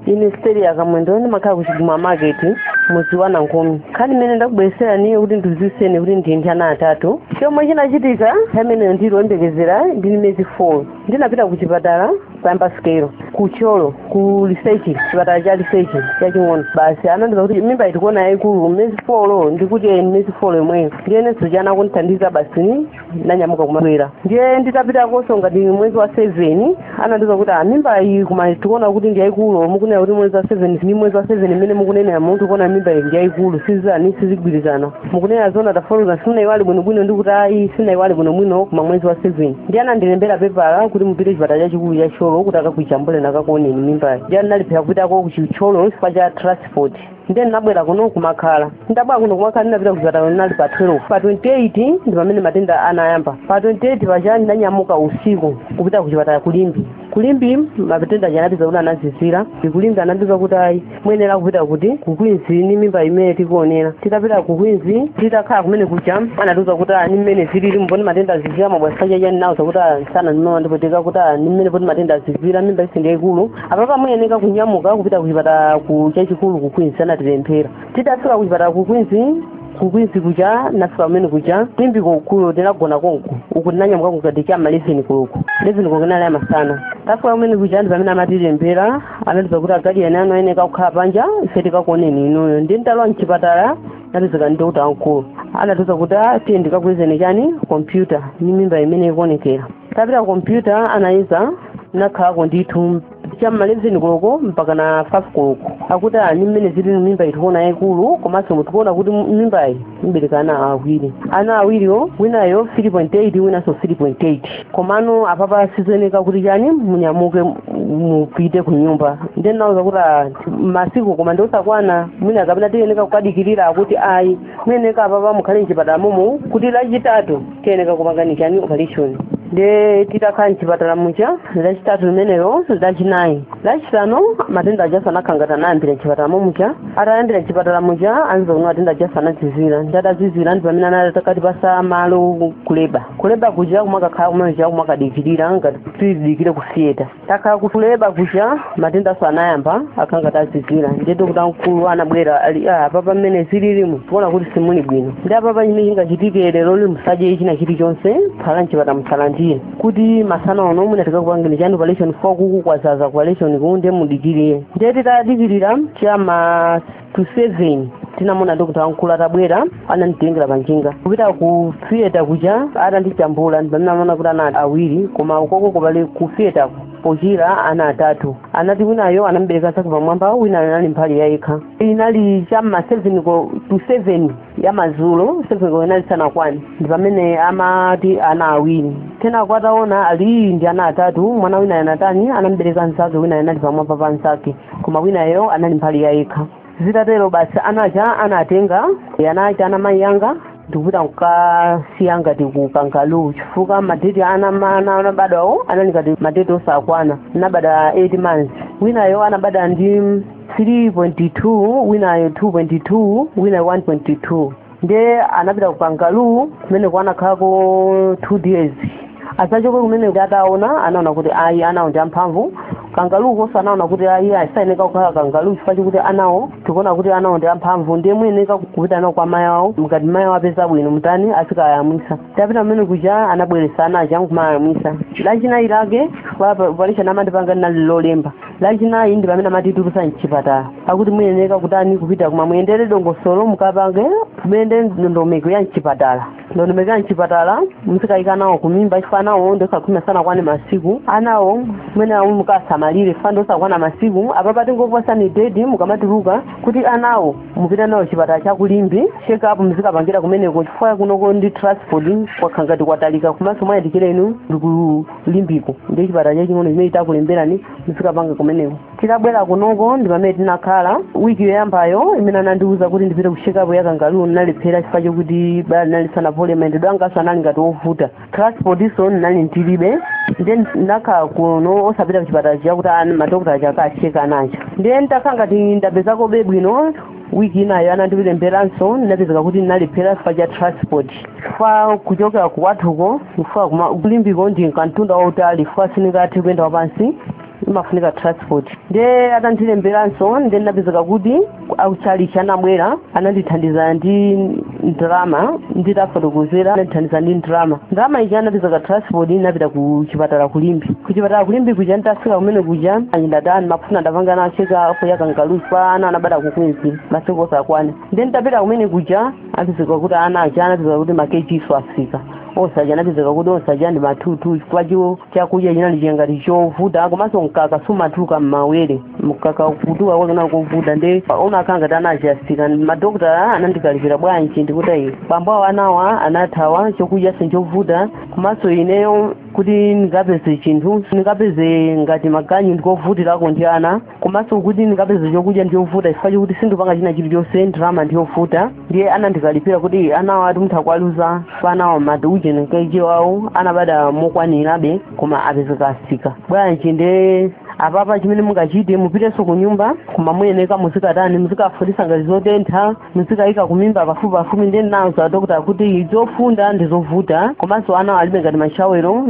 ine Siteliya Kamwendo ndimakhala ku chiguma market mudzi wa nankhumi nkhani imene ndakubwereserani yokuti ndidziwitseni kuti ndili ndi ana atatu chomwe chinachitika pamenepo ndili oyembekezera ndili ndi miyezi 4 ndinapita ku chipatala kuyamba sikelo ku Thyolo ku lisechi chipatala cha lisechi chaching'ono basi anandiuza kuti mimbayi tikuona yayikulu miyezi 4 ndikuti ee ni miyezi 4 yomweyo ndiyenenso chana kundithandiza basi ndanyamuka kumabwera ndiye nditapitakonso ngati mwezi wa seven anandiuza kuti "Ah, mimba iyi koma tikuona kuti ndi yayikulu mukunena kuti mwezi wa seven ni mwezi wa seven imene mukunenera munthu tikuona mimba iyi ndi yayikulu sizani sizigwirizana mukunena zona tafoluza sinayiwali bwinobwino ndi kuti ayi sinayiwali bwinobwino koma mwezi wa seven ndiye anandilembera pepala kuti mupite chipatala chachikulu cha Thyolo kuti akakujambuleni akakuoneni mimbayi ndiye ndinalephera kupitako ku Thyolo chifukwa cha transport ndiye ndinabwera kuno kumakhala ndabwera kuno kumakhala ndinapita kuchipatala ndinali pa 12 pa 28 ndi pamene matenda anayamba pa 28 paja ndinanyamuka usiku kupita kuchipatala ku Limbe ku Limbe matenda aja anatiuza kuti anazizira nde ku Limbe anatiuza kuti ayi muyenera kupita kuti ku Queens ni mimba imene tikuonera titapita ku Queens titakhala kumene kuja anatiuza kuti a ni mmene zilili mboni matenda azizira mabwasikachaja ndinauza kuti ah, sana ndimene ndipo tikakuti ah, ni mmene poti matenda azizira mimba iyiso ndi yaikulu apapa muyeneka kunyamuka kupita kuchipatala chachikulu ku queens anatilembera tidafika kuchipatala ku queens ku queens kuja nafika kumene kuja Limbe kukulo tinagona konko uku tinanyamuka kukati cha maleveni koloko leveni koloko inali ya masana tafika kumene kuja ndi pamene amatilembera anatiuza kuti agadiyeni anu ayeneka kukhala panja ife tikakuoneni inuyo nde ndalowa mchipatala natizika dokota wamkulu anatiuza kuti tiye ndikakuyezeni chani kompyuta ni mimba imene ikuonekera tapita kompyuta anayeza nakhalako ndithu cha mma 11 koloko mpaka na 5 koloko akuti a ni mmene zilili mimbayi tikuona yaikulu komanso umu tikuona kuti mimbayi mubereka ana awiri ana awiriwo winayo 3.8 winanso 3.8 komano apapa sizoyeneka kuti chani munyamuke mupite ku nyumba nde ndinawauza kuti ah, masiku koma ndiosakwana mwina kapena tiyeneka kukadikirira akuti ayi muyeneka apapa mukhale mchipatala momo kuti lachitatu tiyeneka kukupangani chani operation nde titakhala mchipatala muja lachitatu limenelo lachinayi lachisanu matenda ajaso anakhala ngati anayambira mchipatala mommuja atayambira mchipatala muja anatiuza kuti matenda ajaso anazizira nde atazizira ndi pamene anakatipatsa malo kuleba kuleba kuja kumakakhala kumeneja kumakadikirira ngati tidikire ku theatre takhala kuleba kuja matendanso anayamba akhala ngati azizira ndiye dokota wamkulu anabwera ali "Ah, apapa mmene zililimu tikuona kuti simuli bwino nde apapa chimene chingachitike leroli musadye china chilichonse phala mchipatala musalandire kuti masana ano mwina tikakupangeni chani operation fukwa uku kwadzadza operation ku ndiye mudikirire ndiye titadikirira cha ma to seven tinamuona dokota wamkulu atabwera ananditengera panjinga kupita ku theater kuja atandijambula ndi pamene anaona kuti ana awiri koma ukoko ku bali ku theater pochira ana atatu anati winayo anambereka nzake pamwamba wina anali mbali yayekha inali cha ma seven ko to seven ya mazulo seven ko inali isanakwane ndi pamene amati ana awiri kenako ataona ali ndi ana atatu mwana winayo anatani anambereka nzake wina anali pamwamba pa nzake koma winayo anali mbali ya yekha zitatero basi ana aja anatenga ana aja mayi yanga ndikupita kukasiya ngati ku kangaroo chifukwa madeti ana ana anabadwawo anali ngati madeti osakwana anabadwa 8 months winayo anabadwa ndi 3.2 winayo 2.2 winayo 1.2 ndiye anapita ku kangaroo kumeneko anakhalako two days atachoka kumene kuti ataona anaona kuti ayi anawo ndi amphamvu kangaroo konso anaona kuti ayi asayeneka kukhala kangaroo chifukwa chokuti anawo tikuona kuti anawo ndi amphamvu ndiye muyeneka kupita nawo kwa mayi awo ngati mayi awo apeza bwino mutani azikayamwisa tapita mmene kuja anabweretsa ana aja nkumayamwisa lachinayi lake operation amandipanga linali lolemba lachinayi ndi pamene amatitulusa mchipatala akuti muyeneka kutani kupita koma muyendere dongosolo mukapange muyende ndondomeko ya mchipatala ndondomeko ya mchipatala muzikayika nawo kumimba chifukwa anawo ndiosakhwima sanakwane masiku anawo mwana mukasamalire chifukwa ndiosakwana masiku apapa tingokupatsani date mukamatuluka kuti anawo mupita nawo chipatala cha ku Limbe check up muzikapangira kumeneko chifukwa kunoko ndi transport kwakhala ngati kwatalika komanso mwayandikira inu ndi ku Limbeko ndi chipatala chaching'ono chimene titakulembereni muzikapanga kumeneko titabwera kunoko ndi pamene tinakhala wiki yoyambayo imene anandiwuza kuti ndipite ku check up ya kangaroo ndinalephera chifukwa chokuti bala linali lisanapole mayendedwe anganso anali ngati ovuta transportnso ndinali ndilibe ndiye ndinakhala kuno osapita kuchipatala chakuti madokotala aja akacheka ana aja ndiye nditakhala ngati ndapezakobe bwino wiki inayo anandilemberanso ndinapezeka kuti ndinalephera chifukwa cha transport chifukwa kuchokera kwathuko kufika ku Limbeko ndi kamtunda wautali chifukwa sindingathe kuyenda wapansi imafunika transport ndiye atandilemberanso ndiye ndinapezeka kuti akutchalitchi anabwera anandithandiza ndi ndalama nditafotokozera anandithandiza ndi ndalama ndalama ija inapezeka transport ndinapita ku chipatala ku Limbe ku chipatala ku Limbe kuja nditafika kumene kuja anyidatani ndimafuna ndipange nawo check up ya kangaroo chifukwa ana anabadwa kukwenzi masiku osakwana ndiye nditapita kumene kuja anapezeka kuti ana aja anapezeka kuti makeji nso afika osaja anapezeka kuti osaja ndi matutu chifukwa chakudya chinali changati chovuta komanso mkaka sumatuluka m'mawere mkaka kutuluka kwake kunali kovuta ndiye anakhala ngati ana aja atsika madokotala anandikalipira bwanji ndinati ayi bambo awo anawa anathawa chakudyanso nchovuta komanso ineyo kuti ndingapeze chinthu ndingapeze ngati maganyu ndikovutirako ndi ana komanso kuti ndikapeze chokudya ndiyovuta chifukwa chokuti sindipanga china chilichonse ndalama ndiyovuta ndiye anandikalipira kuti anawa ati mutha kuwaluza pa anawa mati uje nkeji wawo anabada mokwanirabe koma apezeka asika bwanji ndiye apapa chimene mungachite mupitenso ku nyumba koma muyeneka muzikatani muzikafundisa ngati zotentha muzikayika kumimba pafupipafupi ndinauza adokota kuti zofunda ndi zovuta komanso ana alibe ngati mashawero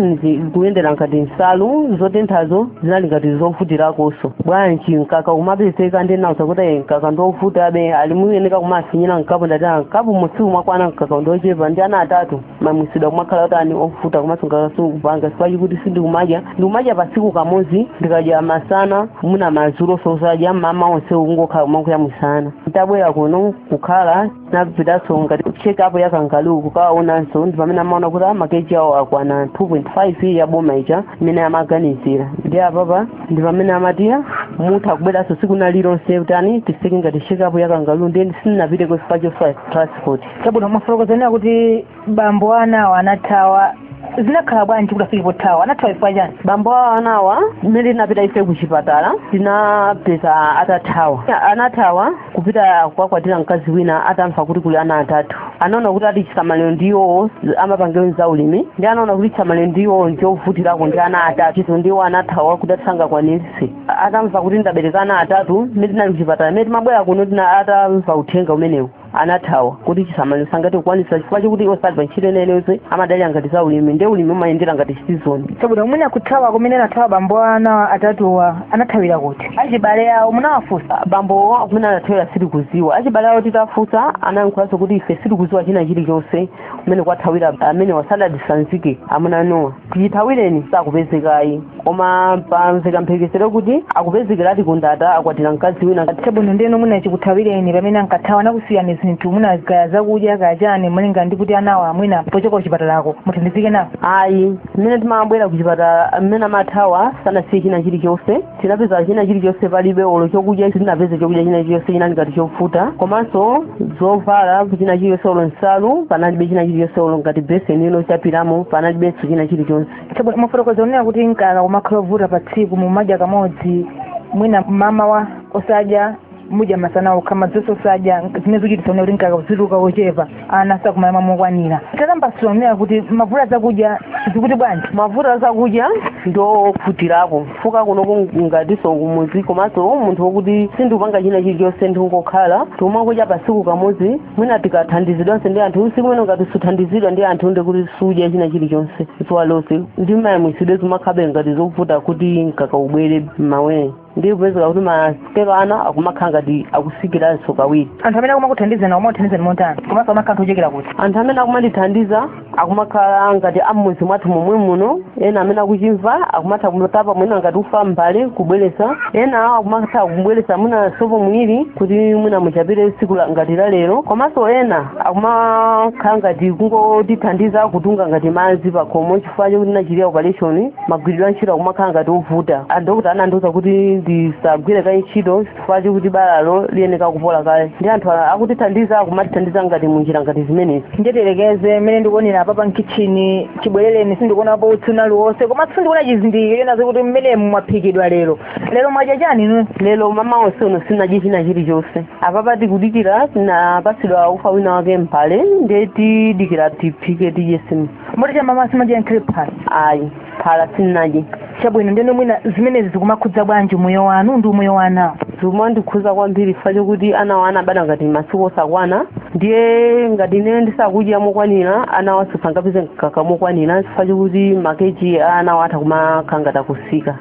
kuyendera ngati nsalu zotenthazo zinali ngati zovutirakonso bwanji mkaka kumapezeka ndinauza kuti "Eh, mkaka ndiovutabe ali muyeneka kumafinyira mkapu ndati "Ah, mkapumu sikumakwana mkaka ndiochepa ndi ana atatu mayamwisidwe akumakhala utani ovuta komanso mkaka sukupanga chifukwa chokuti ndikumadya pasiku kamodzi ndikadya masana mwina madzuloso osadya mamawa onse kungokhala kumakadya masana ntabwera kuno kukhala napitanso ngati check up ya kangaroo kukawaonanso ndi pamene amaona kuti makeji awo akwana 2.5 ya boma ija imene amaganizira ndi apapa ndi pamene amati mutha kubweranso siku lina lililonse utani tiseke ngati check up ya kangaroo nde sindinapiteko chifukwa cha transport chabwino mwafotokoza kunena kuti bambo anawa anathawa zinakhala bwanji kuti afike pothawa anathawa chifukwa chani bambo awo anawa mmene tinapita ife ku chipatala tinapeza atathawa anathawa kupita kukakwatira mkazi wina atamva kuti kuli ana atatu anaona kuti ati chisamaliro ndiwo amapangira za ulimi ndi anaona kuti chisamaliro ndiwo nchovutirako ndi ana atatu chizo ndiwo anathawa kuti ati sangakwanirise atamva kuti ndabereka ana atatu mmene tinali ku chipatala mmene timabwera kuno atamva uthenga umenewu anathawa kuti chisamaliro sangathe kukwanisa chifukwa chokuti iwo sali pa ntchito ina iliyonse amadalira ngati za ulimi nde ulimi umayendera ngati season chabwino mwina kuthawa kumene anathawa bambo ana atatuwa anathawira kuti achibale awo munawafunsa bambo kumene anathawira sitikuziwa achibale awo titafunsa anayankhulanso kuti ife sitikuziwa china chilichonse kumene kwathawira amenewa sadatisanzike amuna anuwa chithawireni sakupezekayi koma pamveka mphekesera kuti akupezekeradi kundata akwatira mkazi wina chabwino ndeno mwina chikuthawireni pamene ankathawa anakusiyani zinthu mwina kaya zakudya kaya chani malinga ndi kuti anawa mwina pochoka kuchipatalako muthandizike nawo ayi mmene timabwera kuchipatala mmene amathawa sanasiye china chilichonse tinapeza china chilichonse palibe olo chokudya sitinapeze chokudya china chilichonse chinali ngati chovuta komanso zovala china chilichonse olo nsalu panalibe china chilichonse olo ngati beseni yochapiramo panalibenso china chilichonse Chabwino, mwafotokoza kunena kuti mkaka umakhala ovuta pa tsiku mumadya kamodzi mwina mamawa osadya mudya masana okha mazuloso osadya zimene zochitisa kuti mkaka uzituluka wochepa ana sakumayamwa mokwanira tatambasulani kunena kuti mavuto azakudya zikuti bwanji mavuto azakudya ndiovutirapo fukwa kunoko ngatiso kumuzi komanso munthu wokuti sindikupanga china chilichonse ndikungokhala tikumadya pasiku kamodzi mwina tikathandizidwanso ndi anthu siku limene ngati suthandizidwa ndi anthu ndi kuti sudya china chilichonse zuwa lonse ndi mayamwisidwe zimakhalabe ngati zovuta kuti mkaka ubwere m'mawere ndi kupezeka kuti masikelo ana akumakhala ngati akusikiranso kawiri anthu amene akumakuthandizani akumakuthandizani motani komanso amakhala anthu ochokera kuti anthu amene akumandithandiza akumakhala ngati am'mudzi mwathu momwe muno ena amene akuchimva akumatha kutapa mwina ngati ufa mbale kubweresa ena akumatha kubweresa mwina sopo mwiri kuti mwina muchapire tsiku ngati la lero komanso ena akumakhala ngati kungotithandiza kutunga ngati madzi pakhomo chifukwa chokuti nachitidwa operation magwiridwe a ntchito akumakhala ngati ovuta adokota anandiuza kuti ndisagwire kaye ntchito chifukwa chokuti balalo liyeneka kupola kaye ndi anthu akutithandiza akumatithandiza ngati munjira ngati zimenezi ndiye tiyerekeze mmene ndikuonera apapa mkitchini chibwerereni sindikuonapo utsi wina uliwonse komanso sindikuona chizindikiro choonetsa kuti muno mwaphikidwa lero lero mwadya chani inu lero mmawa onse uno sinadye china chilichonse apapa tikudikira tinapatsidwa ufa wina wake mbale ndiye tidikira tiphike tidye nsima moti cha mmawa simunadye nkhale phala ayi phala sindinadye chabwino ndeno mwina zimenezi zikumakhuza bwanji umoyo wanu ndi umoyo wa anawo zikumandikhuza kwambiri chifukwa chokuti anawo anabadwa ngati masiku osakwana ndiye ngati ine ndisakudya mokwanira anawo sangapeze mkaka mokwanira chifukwa chokuti makeji a anawo atha kumakhala ngati akusika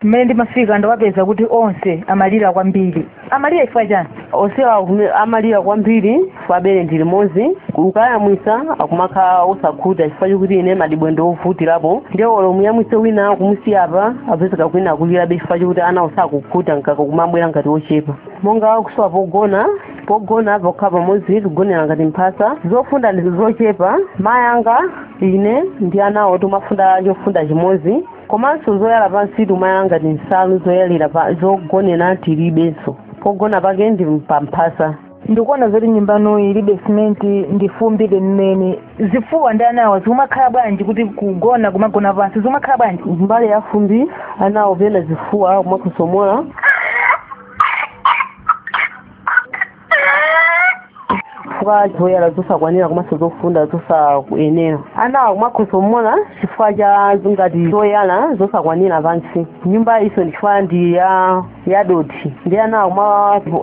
mmene ndimafika ndawapeza kuti onse amalira kwambiri amalira chifukwa chani onsewa amalira kwambiri chifukwa bere ndi limodzi ukayamwisa akumakhala osakhuta chifukwa chokuti ine madyedwe ndi ovutirapo ndiye olo muyamwise wina kumusiya apa apezeka kuti wina akulirabe chifukwa chokuti anawo sakukhuta mkaka kumabwera ngati ochepa monga kusowa pogona pogona pokhala pamodzi tigonera ngati mphasa zofunda ndi zochepa mayi anga ine ndi anawo timafunda chofunda chimodzi komanso zoyala pansi timayala ngati nsalu zoyalira zogonera tilibenso pogona pake ndi pamphasa ndikuona zoti nyumba yanu ilibe simenti ndi fumbi lenileni zifuwa ndi anawa zikumakhala bwanji kuti kugona kumagona pansi zikumakhala bwanji mbali ya fumbi anawo pena zifuwa kumakhosomola chifukwa cha zoyala zosakwanira komanso zofunda zosakuyenera anawo akumakhosomola chifukwa cha ngati zoyala zosakwanira pansi nyumba iso ndichifukwa ndi yadothi ndi anawo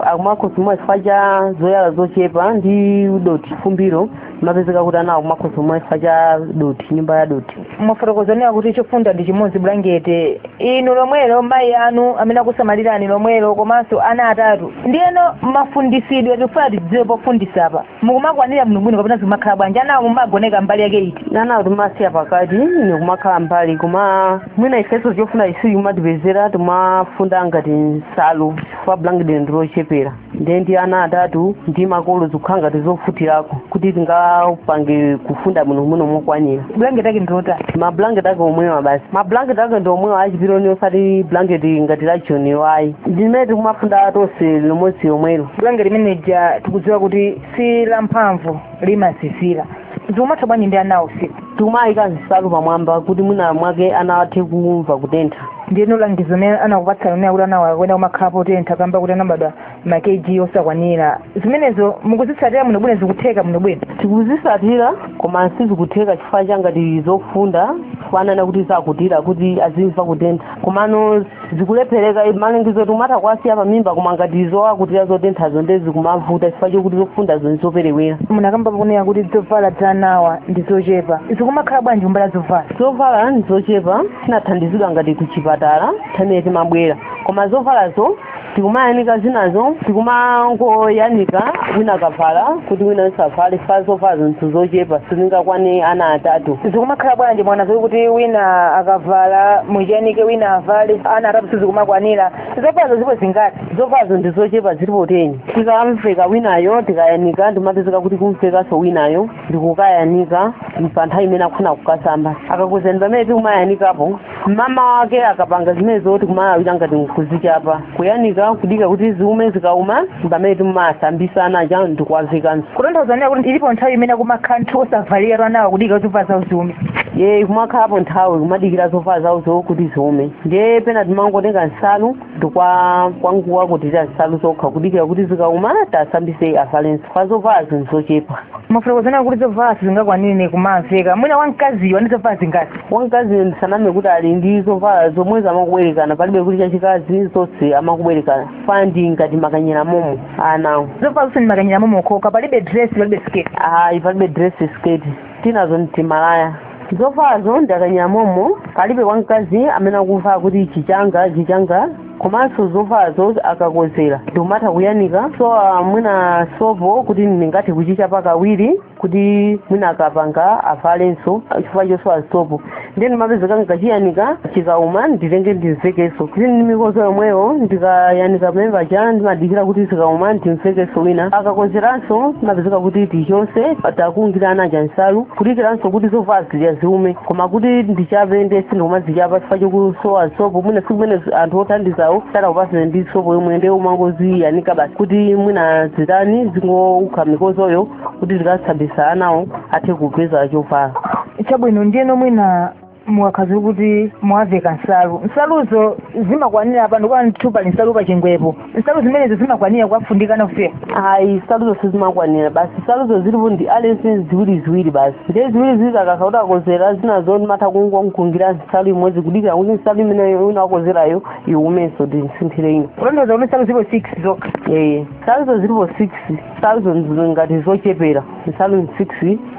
akumakhosomola chifukwa cha zoyala zochepa ndi dothi fumbiro mapezeka kuti anawo kumakhosomola chifukwa cha dothi nyumba ya dothi mwafotokoza nena kuti chofunda ndi chimodzi bulangete inu lomwelo mayi anu amene akusamalirani lomwelo komanso ana atatu ndiyeno mafundisidwe tikufuna tidziwe pofundisa apa mukumakwanira bwinobwino kapena zikumakhala bwanji anawo mumagoneka mbali yake iti anawo timasiya pakati ine kumakhala mbali koma mwina ifenso chofunda sichikumatipezera timafunda ngati nsalu chifukwa bulangeti ndilochepera ndiye ndi ana atatu ndi makolo zikukhala ngati zovutirako kuti tingapange kufunda bwino muno mokwanira blanket ake ndilotani mablanket ake omwewa basi mablanket ake ndi omwewa achipironi osati blanket ngati la choniyo ayi ndimene tikumafunda tonse limodzi lomwelo blanket limene lija tikudziwa kuti si lamphamvu limazizira zikumatha bwanji ndi anawo usiku tikumayika nsalu pamwamba kuti mwina mwake ana athe kumva kutentha ndiyeno langizo limene anakupatsani lonena kuti anawa akuyenera kumakhala potentha kamba kuti anabadwa ma kg osakwanira zimenezo mukuzitsatira bwinobwino zikutheka bwinobwino tikuzitsatira koma sizikutheka chifukwa cha ngati zofunda kunena kuti zakutira kuti azimva kutentha komano zikulephereka malangizo timatha kuwasiya pamimba koma ngati zowakutira zotenthazo nde zikumavuta chifukwa chokuti zofundazo ndizoperewera munakamba pakunena kuti zovala za anawa ndi zochepa zikumakhala bwanji kumbali ya zovala zovala ndizochepa tinathandizidwa ngati kuchipatala nthawi imene timabwera koma zovalazo tikumayanika zinazo tikumangoyanika wina akavala kuti wina asavale chifukwa zovalazo ndi zochepa sizingakwane ana atatu zikumakhala bwanji mwana zokuti wina akavala muchiyanike wina avale ana atatu sizikumakwanira zovalazo zilipo zingati zovalazo ndi zochepa zilipo teni tikamuveka winayo tikayanika tikumapezeka kuti kumuvekanso winayo ndikukayanika pa nthawi imene akufuna kukasamba akakuzani pamene tikumayanikapo mmamawa wake akapanga zimenezo tikumalawira ngati nkuzichapa kuyanika kudika kuti ziume zikauma ndi pamene timasambitsa ana aja ndikuwavekanso kutanthauza kuti ilipo nthawi imene akumakhala osavaliratu anawa kudika zovala zawo ziume ee kumakhalapo nthawi kumadikira zovala zawozo kuti ziume ndiye pena timangotenga nsalu ndi kungowakutira nsalu zokha kudikira kuti zikauma tiwasambitse avalenso chifukwa zovalazo ndi zochepa mwafotokoza kuti zovala sizingakwanire kumamuveka mwina wamkaziyo ali ndi zovala zingati wamkazi ndisaname kuti ali ndi zovala zomwe zamakubwerekana palibe kuti chachikazi zonse amangobwerekana chifukwa ndi ngati makanyera momo anawo zovala zonse ndi makanyera momo okhaokha palibe dress palibe sketi ayi palibe dress sketi tinazo ndi timalaya zovalazo ndi makanyera momo palibe wamkazi amene akuvala kuti ichi changa ichi changa komanso zovalazo akakodzera ndikumatha kuyanika sowa mwina sopo kuti ndingathe kuchichapa kawiri kuti mwina akapanga avalenso chifukwa chosowa sopo ndiye ndimapezeka ndikachiyanika chikauma nditenge ndimuvekenso chili ndi mikodzo yomweyo ndikayanika pamwambapaja ndimadikira kuti zikauma ndimuvekenso wina akakodzeranso ndimapezeka kuti timangowakungira ana aja nsalu kudikiranso kuti zovala zija ziume koma kuti ndichape ndiye sindikumazichapa chifukwa chokusowa sopo mwina tsiku limene anthu othandizawo sadakupatsire ndi sopo yomwe ndiye timangoziyanika basi kuti mwina zitani zingoukha mikodzoyo kuti tikasambisa anawo athe kupeza chovala chabwino ndiyeno mwina mukakhala kuti mwawaveka nsalu nsaluzo zimakwanira panopa ndithu pali nsalu pachingwepo nsalu zimenezo zimakwanira kuwafundika anawo ayi nsaluzo sizimakwanira basi nsaluzo zilipo ndi aliyense ziwiri ziwiri basi ndiye ziwiri ziwiri akakha kuti akozera zinazo ndimatha kungonkulungira nsalu imodzi kudikira kuti nsalu imene wina akozerayo iwumenso ndinsinthire ino kutanthauza kuti nsalu zilipo six zokha ee nsaluzo zilipo six nsaluzo ndi ngati zochepera nsalu six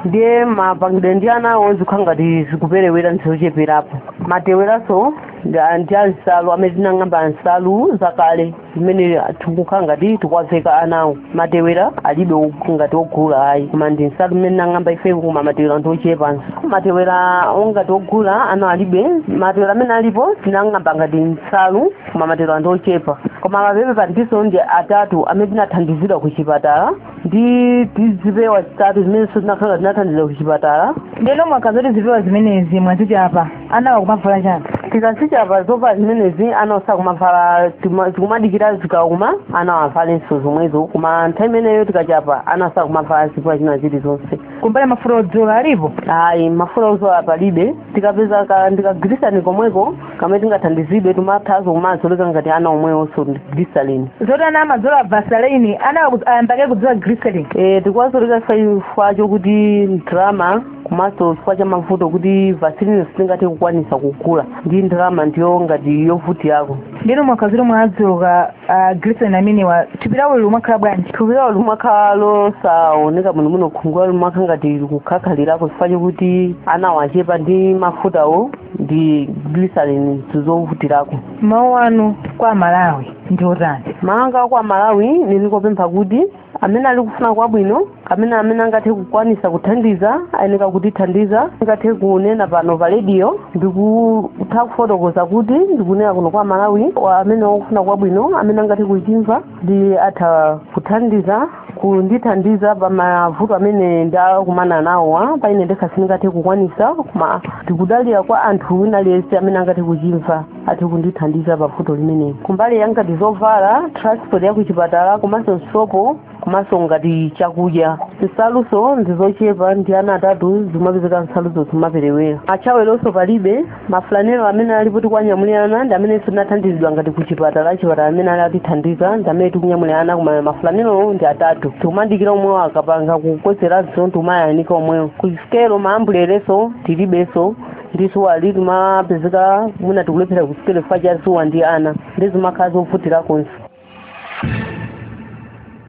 ndiye mapangidwe ndi anawo zikukhala ngati zikuperewera ndi zocheperapo mateweranso ndi- ndi a nsalu amene tinang'amba nsalu zakale zimene tikukhala ngati tikuwaveka anawo matewera alibe og- ngati ogula ayi koma ndi nsalu zimene tinang'amba ifeyo koma matewera ndi ochepanso matewera ongati ogula anawo alibe matewera amene alipo tinang'amba ngati nsalu koma matewera ndi ochepa koma mababy pantinso ndi atatu amene tinathandizidwa ku chipatala ndi tizipewa zitatu zimene tinakhala tinathandizidwa ku chipatala ndeno mukakhala zoti zipewa zimenezi mwazichapa anawa akumavala chani tikazichapa zovala zimenezi anawo sakumavala tuma- tikumadikira zikauma anawo avalenso zomwezo koma nthawi imeneyo tikachapa anawo sakumavala zipewa zina zilizonse kumbali mafuta odzola alipo ayi mafuta odzola palibe tikapeza ka ndi kaglycerin komweko kamene tingathandizidwe timathazo kumazoleka ngati ana omwewonso ndi glycerin zoti ana amazola vaseline ana aku- ayamba kale kudzola glycerin Eh, tikuwazoleka chifukwa chokuti ndalama komanso chifukwa cha mavuto kuti vaseline sitingathe kukwanisa kugula ndalama ndiyo ngati yovutirako ndiyeno mukakhala zoti mwawazoleka ah, glycerin amenewa thupi lawo limakhala bwanji thupi lawo limakhala losaoneka bwinobwino khungu lawo limakhala ngati likukhakhalirako chifukwa chokuti anawa achepa ndi mafutawo ndi glycerin ndi zovutirako mawu anu kwa amalawi ndi otani mawu anga kwa amalawi ndili kupempha kuti amene ali kufuna kwabwino amene amene angathe kukwanisa kuthandiza ayeneka kutithandiza ndingathe kunena pano pa rediyo ndikutha kufotokoza kuti ndikunena kuno kwa malawi wa- amene wakufuna kwabwino amene angathe kuchimva ndi atha kuthandiza kundithandiza pa mavuto amene ndakumana nawowa paine ndekha sindingathe kukwanisa koma ndikudalira kwa anthu wina aliyense amene angathe kuchimva athe kundithandiza pa vuto limeneli kumbali ya ngati zovala transport ya kuchipatala komanso nsopo komanso ngati chakudya nsalunso ndizochepa ndi ana atatu zimapezeka nsaluzo zimaperewera mashawelonso palibe mafulanero amene alipo tikuwanyamulira ana ndi amenenso tinathandizidwa ngati ku chipatala chipatala amene ali atithandiza ndi amene tikunyamulira ana koma mafulanerowo ndi atatu tikumadikira omwewo akapanga kukozeranso tikumayanika omwewo ku sikelo maambulereso tilibenso ndi zuwali timapezeka mwina tikulephera kusikelo chifukwa cha zuwa ndi ana ndi zimakhala zovutirakonso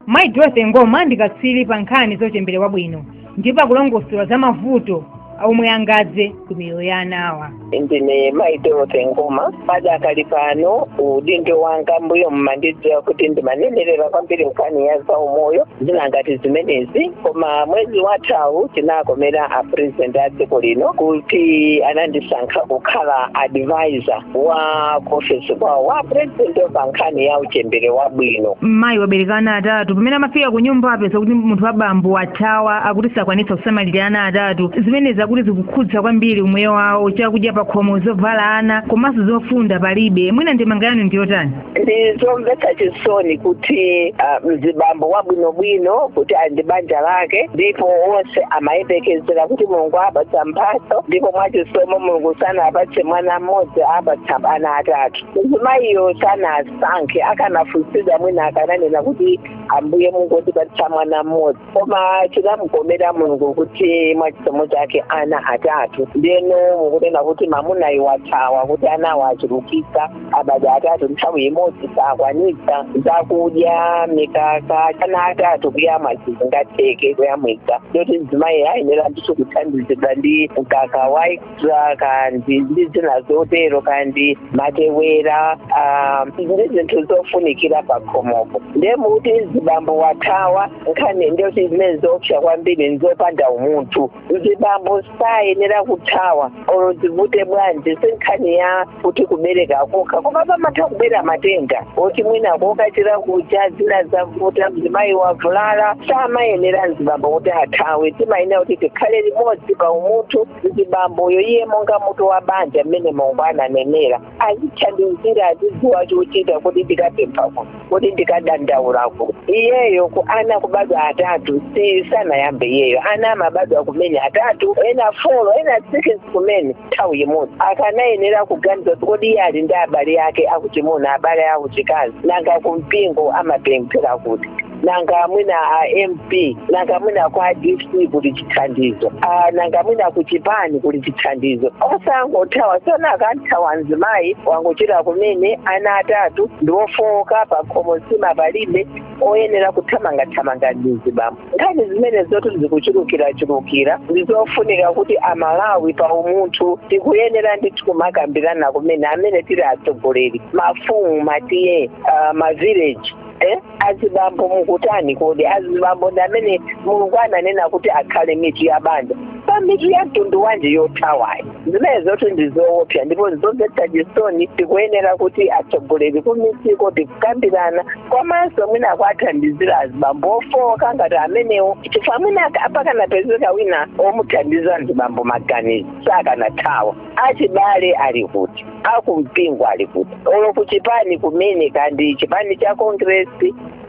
mayi dorothy ngoma ndi katswiri pa nkhani zochembere wabwino ndipo akulongosola za mavuto omwe angadze ku miyoyo ya ana awa ndine mayi dorothy ngoma padakali pano udindo wanga mbuyo mmandidziwa kuti ndimanenerera kwambiri nkhani ya zaumoyo zina ngati zimenezi koma mwezi wathawu chinakomera a president a dziko lino kuti anandisankha kukhala advisor wa ku ofesi kwawo wa purezidenti pa nkhani ya uchembere wabwino mayi wabereka ana atatu pamene amafika ku nyumba apeza kuti munthu wa bambo wathawa akuti sakwanitsa kusamalira ana atatu zimenezi akuti zikukhudza kwambiri umoyo wawo chakudya pakhomo zovala ana komanso zofunda palibe mwina ndemanga yanu ndiyotani ndi zomvetsa chisoni kuti ah, mzibambo wabwinobwino kuti ali ndi banja lake ndipo onse amayembekezera kuti mulungu apatsa mphatso ndipo mwachisomo mulungu sanapatse mwana mmodzi apatsa ana atatu mzimayiyo sanasankhe akanafunsidwa mwina akananena kuti ambuye mungotipatsa mwana mmodzi koma chinamukomera mulungu kuti mwa chisomo chake ana atatu ndeno mukunena kuti mamunayo wathawa kuti anawo achulukitsa abadwa atatu nthawi imodzi sakwanitsa zakudya mikaka ana atatu kuyamwa sizingatheke kuyamwitsa ndoti mzimayi ayenera ndithu kuthandizidwa ndi mkaka wa extra kandi ndi zina zotero kandi matewera ah, ndi zinthu zofunikira pakhomopo ndiye mukuti mzibambo wathawa nkhani ndiyo kuti zimene zoopsa kwambiri nzopanda umunthu mzibambo sayenera kuthawa olo zivute bwanji si nkhani ya kuti kubereka kokha koma pamatha kubera matenda oti mwina kokachira kucha zina zavuta mzimayi wavulala samayenera mzibambo kuti athawe timayenera kuti tikhale limodzi pa umunthu mzibamboyo iye monga mutu wa banja mmene mulungu ananenera azithandizira azidziwa chochita kodi ndikapempha kuti kodi ndikadandaula kuti iyeyo ku ana kubadwa atatu si sanayambe iyeyo ana amabadwa kumene atatu ena folo ena sikisi kumene nthawi imodzi akanayenera kuganiza kodi iye ali ndi abale ake akuchimuna abale akuchikazi nanga kumpingo amapemphera kuti nanga mwina a mp nanga mwina kwa dc kuli chithandizo Ah, nanga mwina ku chipani kuli chithandizo osangothawa sona akamthawa mzimayi wangochira kumene ana atatu ndi ofowoka pa khomo nsima palibe oyenera kuthamangathamanga ndi mzibambo nkhani zimene zoti zikuchulukirachulukira ndi zofunika kuti amalawi pa umunthu tikuyenera ndithu kumakambirana kumene amene tili atsogoleri mafumu matiye uh, mavileji eh? azibambo mukutani kodi azibambo ndi amene mulungu ananena kuti akhale mitu ya banja pa mitu ya mtundu wanji yothawayo zimenezotu ndi zoopsa ndipo zomvetsa chisoni tikuyenera kuti atsogoleri kumidziko ndi kukambirana komanso mwina kuathandizira azibambo ofowoka ngati amenewo chifukwa mwina apa akanapezeka wina omuthandiza azibambo maganizo sakanathawa achibale ali kuti akumpingo ali kuti olo ku chipani kumene kaya ndi chipani cha congress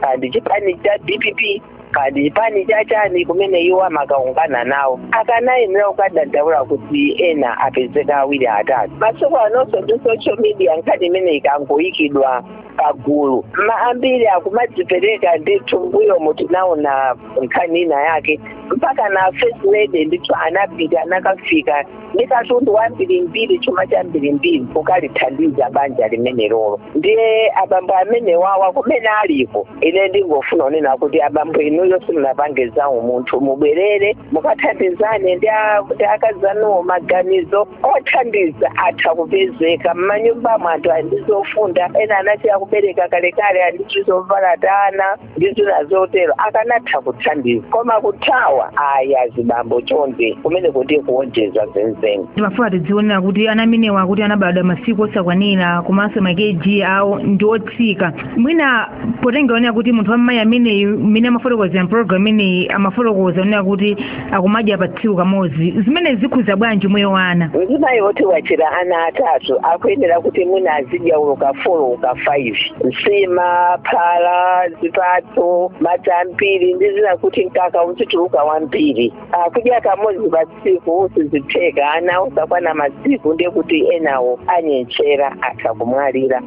kaya ndi chipani cha dpp kaya ndi chipani cha chani kumene iwo amakhala ngana nawo akanayenera kukadandaula kuti ena apezeka awiri atatu masiku anonso ndi social media nkhani imene ikangoyikidwa pagulu ma ambiri akumadzipereka ndithu mbuyomu tinaona nkhani ina yake mpaka na first lady ndithu anapita anakafika ndi katundu wambirimbiri chuma chambirimbiri kukalithandiza banja limenelolo ndiye abambo amenewawa kumene aliko ine ndingofuna kunena kuti abambo inuyo simunapange za umunthu mubwerere mukathandizane ndi a- ndi akazi anuwo maganizo othandiza atha kupezeka mmanyumbamo anthu ali ndi zofunda ena anasiya kubereka kalekale ali ndi tizovala tana ndi zina zotero akanatha kuthandiza koma kuthawa ayi azibambo chonde kumene kuti kuonjeza zenizeni timafuna tidziwenso kuti ana amenewa akuti anabadwa masiku osakwanira komanso makeji awo ndi otsika mwina potengeranso kuti munthu wammayi ameneyu mmene amafotokozera mpologalamu imeneyi amafotokoza onena kuti akumadya pa tsiku kamodzi zimene zikhuza bwanji moyo wa ana mzimayi oti wachira ana atatu akuyenera kuti mwina azidya olo ka folo olo ka 5 nsima phala zipatso madzi ambiri ndi zina kuti mkaka uzituluka wambiri akudya kamodzi pa tsiku sizitheka ana osakwana masiku ndiye kuti enawo anyentchera atha kumwalira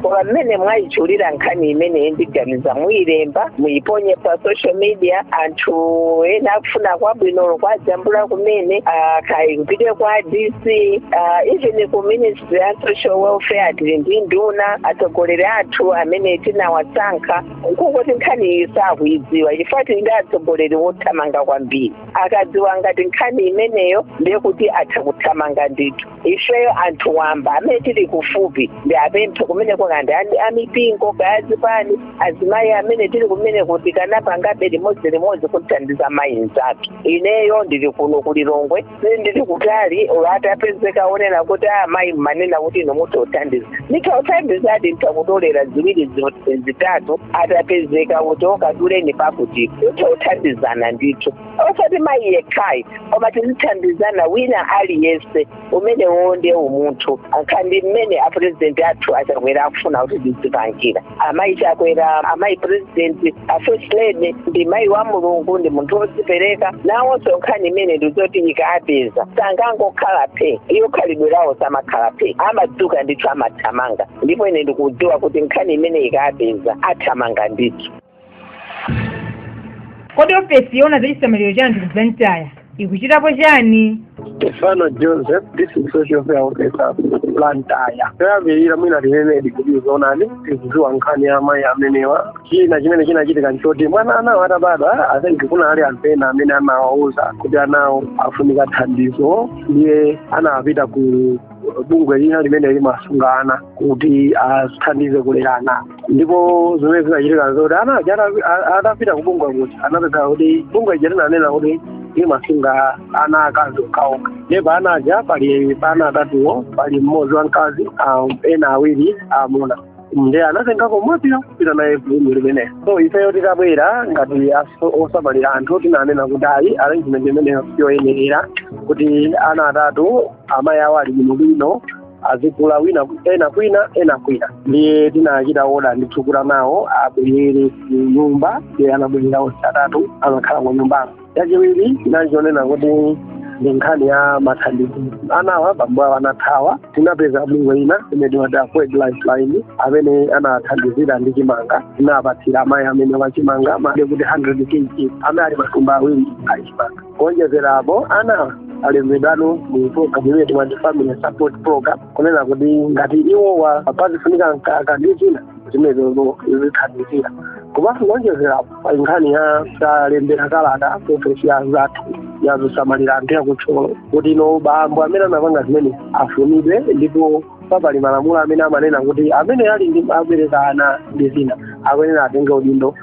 koma mmene mwayitchulira nkhani imeneyi ndiganiza muyilemba muyiponye pa social media anthu ena akufuna kwabwino olo kuwajambula kumene ah, kaya kupita kwa dc ah, even ku ministry ya social welfare tili ndi nduna atsogoleri athu amene tinawasankha nkungoti nkhaniyi sakuyidziwa chifukwa tili ndi atsogoleri wothamanga kwambiri akadziwa ngati nkhani imeneyo ndiye kuti atha kuthamanga ndithu ifeyo anthu wamba amene tili kufupi ndiwapemphe kumene kuti kaya ndi amipingo kaya zipani azimayi amene tili kumene kuti akanapangabe limodzi limodzi kuthandiza mayi mzathu ineyo ndili kuno ku lilongwe ndili kutali olo atapezeka onena kuti amayi mmanena kuti inu mutothandiza nditha kuthandizadi nditha kutolera ziwiri zi- zitatu atapezeka kuti okaduleni pakuti nditha kuthandizana ndithu osati mayi yekhayi koma tizithandizana wina aliyense umenewo nde umunthu amene apurezidenti athu achakwera akufuna kuti tizipangira amayi chakwera amayi purezidenti afirst lady ndi mayi wa mulungu ndi munthu wodzipereka nawonso nkhani imene ndizoti ikapeza sangangokhala phe iwo khalidwe lawo samakhala phe amadzuka ndithu amathamanga ndipo ine ndikudziwa kuti nkhani imene ikapeza athamanga ndithu kodi ofesi yoona za chisamaliro cha anthu ku blantyre ikuchitapo chani Stefano Joseph, district social welfare officer Blantyre. Poyambirira mwina tinenedi kuti zoonadi tikudziwa nkhani ya amayi amenewa. China chimene chinachitika nchoti mwina anawo atabadwa I think kuna ali anthu ena amene anawauza kuti anawo afunika thandizo ndiye anapita ku bungwe lina limene limasunga ana kuti athandize kulera ana. ndipo zimene zinachitika nzoti ana aja ata- atapita kubungwe kuti anapeza kuti bungwe lija linanena kuti limasunga ana akazi okhaokha ndiye pa ana aja pali pa ana atatuwo pali mmodzi wamkazi ah, ena awiri amuna nde anatengako mwanayo kupita naye bungwe limenelo so ifeyo titabwera ngati aso- osamalira anthu tinanena kuti ayi arrangement imeneyo siyoyenera kuti ana atatu amayi awo ali bwinobwino azikula wina ena kwina ena kwina ndiye tinachita oda ndi thu kuti anawo abwerere ku nyumba ndiye anabwerera onse atatu amakhala ku nyumbako chachiwiri tinachionena kuti ndi nkhani ya mathandizo anawa bambo awo anathawa tinapeza bungwe lina imene timati akwed lifeline amene anawathandizira ndi chimanga tinapatsira amayi amenewa chimanga mwati kuti 100 kg amene ali matumba awiri achimanga kuonjezera apo anawa alembedwano mu program imene timati family support program kunena kuti ngati iwowa pazifunika mkaka ndi zina zimenezo zithandizira komanso kuonjezera apo pali nkhani ya talembera kalata ofesi ya anzathu yazosamalira anthu ya ku Thyolo kuti bambo amene anapanga zimenezi afunidwe ndipo papali malamulo amene amanena kuti amene aliyense abereka ana ndi zina akuyenera atenge udindo